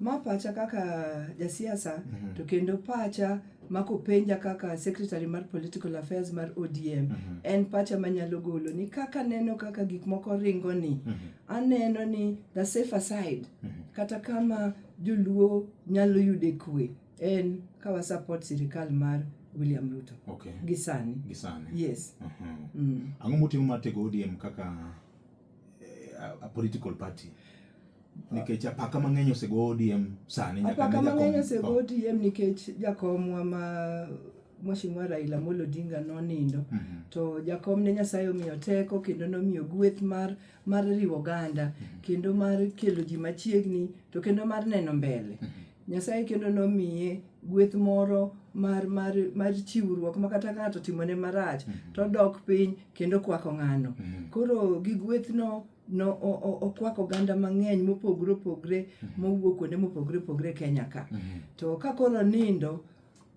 Ma pacha kaka jasiasa mm -hmm. to kendo pacha mako penja kaka secretary mar political affairs mar ODM mm -hmm. en pacha manyalo golo ni kaka neno kaka gik moko ringo ni mm -hmm. aneno ni the safer side mm -hmm. kata kama joluo nyalo yude kwe en kawa support sirikal mar William Ruto okay. gisani gisani yes uh -huh. mm. ang'o motimo mar tego ODM kaka a political party nikech apaka mang'eny osego ODM sani nyaka apaka mang'eny osego ODM nikech jakomwa ma Mheshimiwa Raila Amolo Odinga nonindo mm -hmm. to jakom ne Nyasaye omiyo teko kendo nomiyo gweth mar mar riwo oganda mm -hmm. kendo mar kelo ji machiegni to kendo mar neno mbele mm -hmm. Nyasaye kendo nomiye gweth moro mar mar mar chiwruok ma kata ka ng'ato timone marach mm-hmm. to odok piny kendo kwako ng'ano mm-hmm. koro gi gwethno no okwako oganda mang'eny mopogre opogre mm-hmm. mowuok kuonde mopogre opogre Kenya ka to ka koro nindo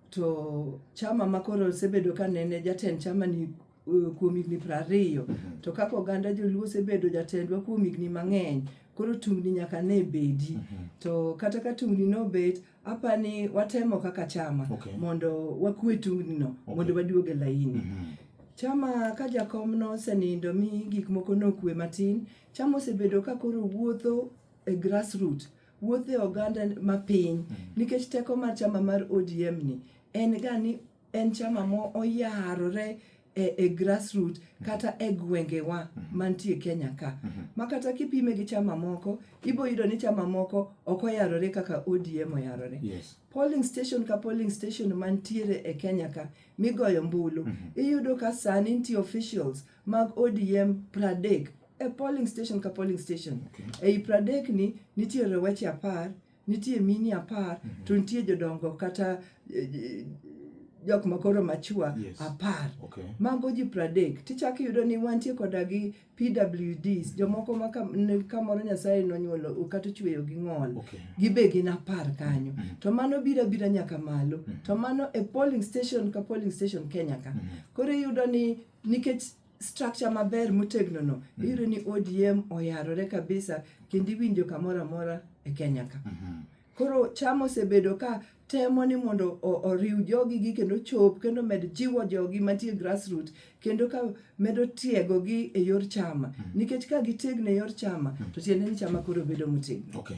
to chama ma koro osebedo ka nene jatend chama ni eh, kuom higni piero ariyo mhm. to kaka oganda joluo osebedo jatendwa kuom higni mang'eny koro tungni nyaka ne bedi mhm. to kata ka tungni nobet apa ni watemo kaka chama okay. mondo wakwe tungni no okay. mondo waduog e laini mm -hmm. chama ka jakom nosenindo mi gik moko nokwe matin chama osebedo ka koro wuotho e grassroot wuotho e oganda mapiny mm -hmm. nikech teko mar chama mar odm ni en ga ni en chama mo oyarore e, e grassroot mm-hmm. kata e gwengewa mm-hmm. mantie Kenya ka mm-hmm. ma kata kipime gi chama moko ibo yudo ni chama moko ok oyarore kaka ODM oyarore yes. polling station ka polling station mantiere e Kenya ka migoyo mbulu iyudo ka sani nitie officials mag ODM pradek e polling station ka polling station okay. ei pradek ni nitiere weche apar Nitie mini apar mm -hmm. to nitie jodongo kata eh, eh, jok makoro machua yes. apar okay. mago ji pradek tichak iyudo ni wantie koda gi pwds jomoko ma kamoro nyasaye nonyuolo kata ochweyo gi ng'ol okay. gibe gin apar kanyo mm -hmm. to mano bira bira nyaka malo mm -hmm. to mano e polling station ka polling station kenya ka mm -hmm. koro iyudo ni nikech structure maber motegno no mm. iyudo ni ODM oyarore kabisa kendo iwinjo kamoro amora e Kenya ka mm -hmm. koro chama osebedo ka temo ni mondo oriw jogi gi kendo chop kendo med jiwo jogi mantie grassroot kendo ka medo tiego gi e yor chama mm. nikech ka gitegno e yor chama mm. to tiende ni chama koro bedo motegno okay.